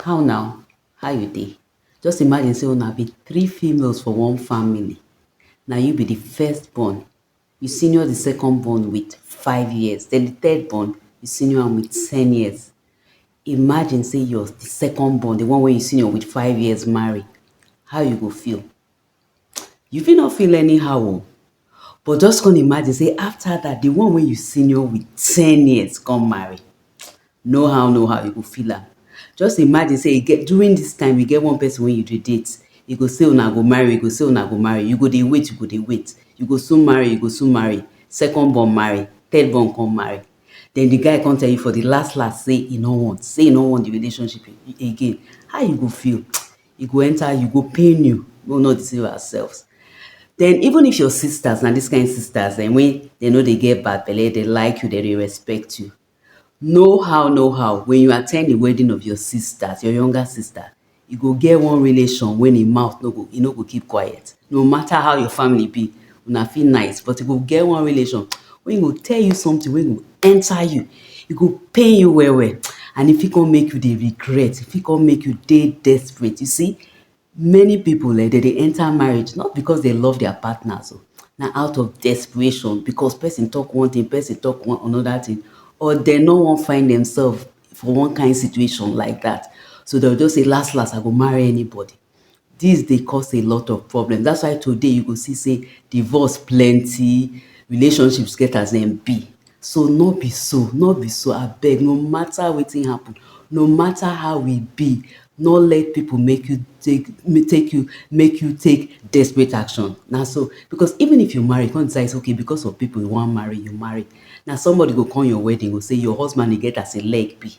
how now how you dey just imagine say una be three females for one family na you be the first born you senior the second born with five years then the third born you senior am with ten years imagine say your the second born the one wey you senior with five years marry how you go feel You fit no feel anyhow o, but just come imagine sey after dat, the one wey you senior with ten years come marry. No how no how, you go feel am. Just imagine sey e get during dis time, e get one person wey you dey date, e go say una go marry, e go say una go marry, you go dey wait, you go dey wait, you go soon marry, you go soon marry, second born marry, third born come marry. Den the guy come tell you for the last last sey e no want, sey e no want the relationship again. How you go feel? e go enter you, e go pain you, make we no deceive ourselves. Den even if your sisters na dis kind sisters dem wey dem no dey get bad belle, dey like you, dem dey respect you, no how no how when you attend the wedding of your sisters, your younger sister, e go get one relation wey im mouth no go, e no go keep quiet. No matter how your family be, una fit nice but e go get one relation wey go tell you something wey go enter you, e go pain you well well and e fit come make you dey regret, e fit come make you dey desperate. You see many pipu um dey dey enter marriage not because dey love their partners oo na out of desperation because person talk one thing, person talk one another thing or dey no wan find themselves for one kain situation like dat so dey go just say las las I go marry anybody. Dis dey cause a lot of problems, that's why today you go see sey divorce plenty, relationships get as dem be, so no be so, no be so abeg, no matter wetin happen, no matter how e be, no let pipu make you take take you, make you take desperate action, na so, because even if you marry you come decide sey okay because of pipu you wan marry, you marry, na somebody go come your wedding go sey your husband e get as e leg be.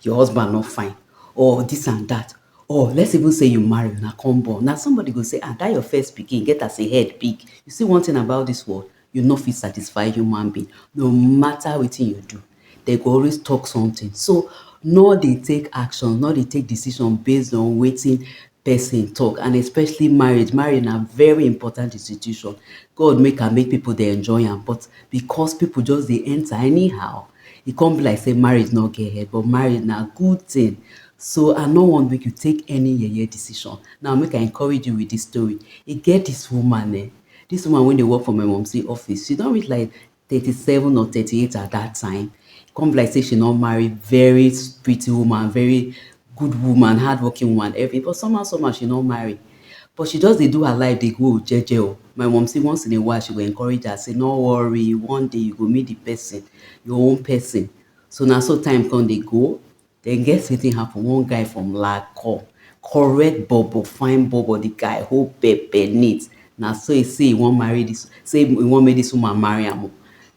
your husband no fine or this and that or let's even say you marry una come born na somebody go say ah that your first pikin get as a head big you see one thing about this world you no fit satisfy human being no matter wetin you do they go always talk something so no dey take action no dey take decision based on wetin person talk and especially marriage marriage na very important institution God make am make people dey enjoy am but because people just dey enter anyhow E come be like say marriage no get head but marriage na good thing so I no want make you take any yeye decision. Now make I encourage you with this story. E get this woman eh, this woman wey dey work for my mumsy office, she don reach like thirty seven or thirty eight at that time. E come be like say she no marry very pretty woman, very good woman, hardworking woman, everything but somehow somehow she no marry. But she just dey do her life dey go jeje o. My mumsy once in a while she go encourage her say no worry one day you go meet the person, your own person. So na so time come dey go. Then guess wetin happen, one guy from lag come, correct bobo, fine bobo, the guy hold pepe neat. Na so e say e wan marry this, say e wan make this woman marry am o.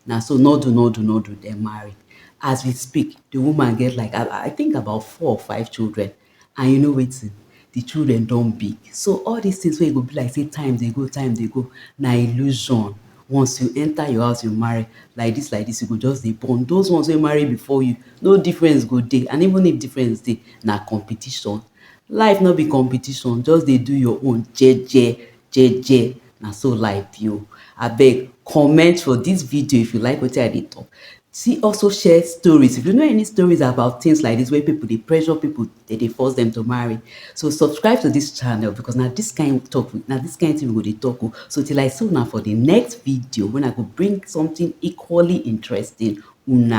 Na so no do no do no do dem marry. As we speak, the woman get like I think about four or five children. And you know wetin, di children don big, so all dis tins wey e go be like say time dey go, time dey go, na illusion. Once you enta your house, you marry, like dis, like dis, you go just dey born. Those ones wey marry before you, no difference go dey, and even if difference dey, na competition. Life no be competition, just dey do your own jeje. jeje na so life be o abeg comment for this video if you like wetin i dey talk see also share stories if you know any stories about things like this where people dey pressure people they dey force them to marry so subscribe to this channel because na this kind of talk na this kind thing we go dey talk o so till i see una for the next video when i go bring something equally interesting una